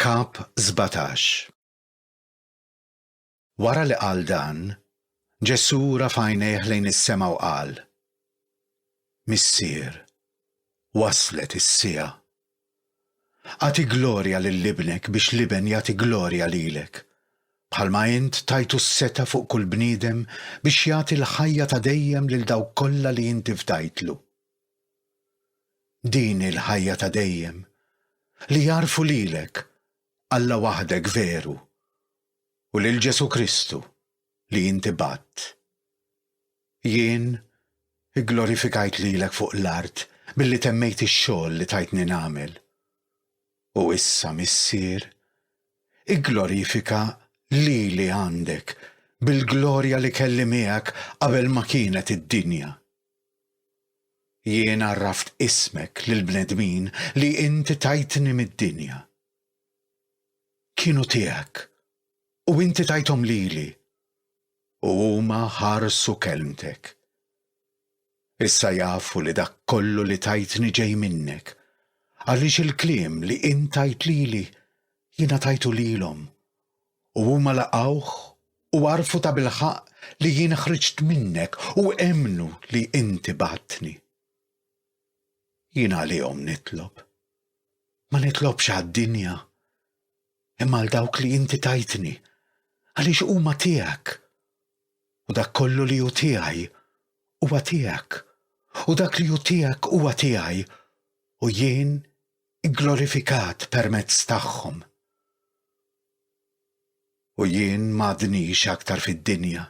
Kap 17 Wara li qal dan, Ġesù rafa' għajnejh lejn is-sema u qal, Missier, waslet is-siegħa. Agħti glorja lil Ibnek biex l-Iben jagħti glorja lilek, bħalma int tajtu s-setgħa fuq kull bniedem biex jagħti l-ħajja ta' dejjem lil dawk kollha li inti fdajtlu. Din hi l-ħajja ta' dejjem, li jagħrfu lilek, Alla waħdek veru, u lil Ġesù Kristu, li inti bgħadt. Jien igglorifikajt lilek fuq l-art billi temmejt ix-xogħol li tajtni nagħmel. U issa, Missier, igglorifika lili għandek bil-glorja li kelli miegħek qabel ma kienet id-dinja. Jien għarraft ismek lill-bnedmin li Inti tajtni mid-dinja. Kienu tiegħek, u Inti tajthom lili, u huma ħarsu kelmtek. Issa jafu li dak kollu li tajtni ġej minnek, għaliex il-kliem li Int tajt lili, jiena tajtu lilhom, U huma laqgħuh u għarfu tabilħaqq li jien ħriġt minnek u emmnu li inti bgħattni. Jien għalihom nitlob. Ma nitlobx għad-dinja, imma għal dawk li inti tajtni, għaliex huma tiegħek. U dak kollu li hu tiegħi huwa tiegħek, u dak li hu tiegħek huwa tiegħi, u jien glorifikat permezz tagħhom. U jien m'għadnix aktar fid-dinja,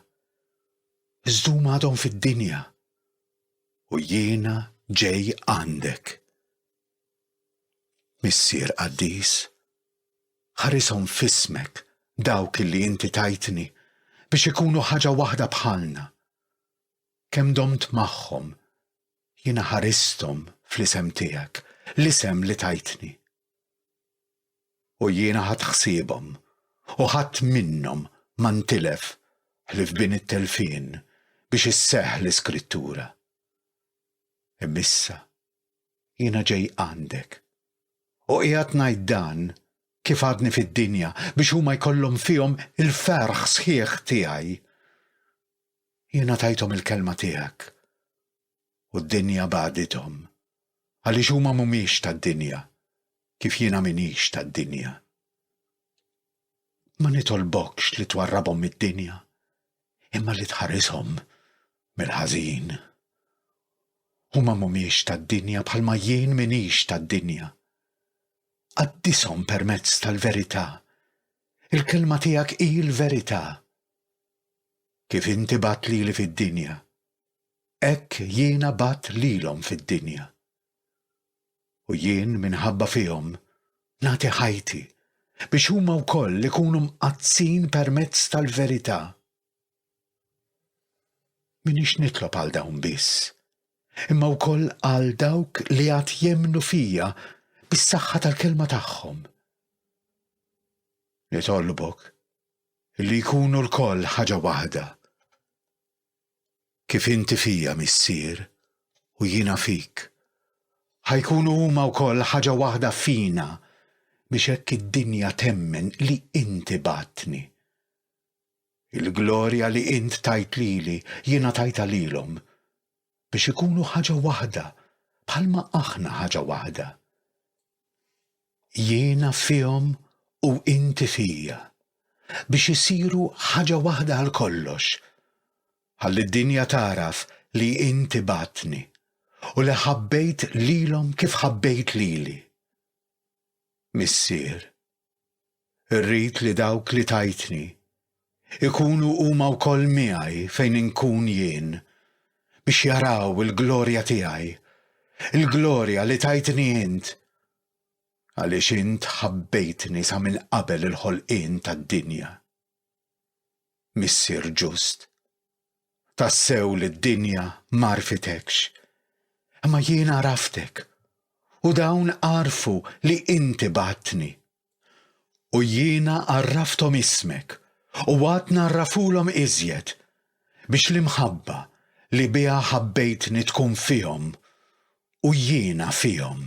iżd huma għadhom fid-dinja, u jiena ġej għandek. Missier qaddis, ħarishom f'ismek dawk li inti tajtni biex ikunu ħaġa waħda bħalna. Kemm domt magħhom, jiena ħaristhom fl-isem tiegħek, l-isem li tajtni. U jiena ħadt ħsiebhom, u ħadd minnhom ma ntilef ħlief b'in it-telfien, biex isseħħ l-Iskrittura. Imma issa jiena ġej għandek, u qiegħed ngħid dan kif għadni fid-dinja biex huma jkollhom fihom il-ferħ sħiħ tiegħi. Jiena tajthom il-kelma tiegħek u d-dinja bagħdithom, għaliex huma m'humiex tad-dinja, kif jiena m'iniex tad-dinja. Ma nitolbokx li twarrabhom mid-dinja, imma li tħarishom mill-ħażin. Huma m'humiex tad-dinja bħalma jien m'iniex tad-dinja. Qaddishom permezz tal-verità. Il-kelma tiegħek hi l-verità. Kif inti bat lili fid-dinja, hekk jiena bgħatt lilhom fid-dinja. U jien minħabba fihom nagħti ħajti biex huma wkoll ikunu mqaddsin permezz tal-verità. Minix nitlob għal dawn biss, imma wkoll għal dawk li għad jemnu fija bis-saħħa tal-kelma tagħhom. Nitolbok li jkunu lkoll ħaġa waħda, kif inti fija, Missier, u jiena fik, ħa jkunu huma wkoll ħaġa waħda fina biex hekk id-dinja temmen li inti bgħattni. Il-glorja li int tajt lili jiena tajtha lilhom, biex ikunu ħaġa waħda bħalma aħna ħaġa waħda, jiena fihom u inti fija, biex isiru ħaġa waħda għal kollox, ħalli d-dinja tagħraf li inti bagħadtni u li ħabbejt lilhom kif ħabbejt lili. Missier. Irrid li dawk li tajtni ikunu huma wkoll miegħi fejn inkun jien, biex jaraw il-glorja tiegħi, il-glorja li tajtni int, għaliex int ħabbejtni sa minn qabel il-ħolqien tad-dinja. Missier ġust. Tassew li d-dinja m'għarfitekx, imma jien għaraftek, u dawn għarfu li inti bgħattni. U jiena għarrafthom ismek, u għad ngħarrafulhom iżjed, biex l-imħabba li biha ħabbejtni tkun fihom, u jiena fihom.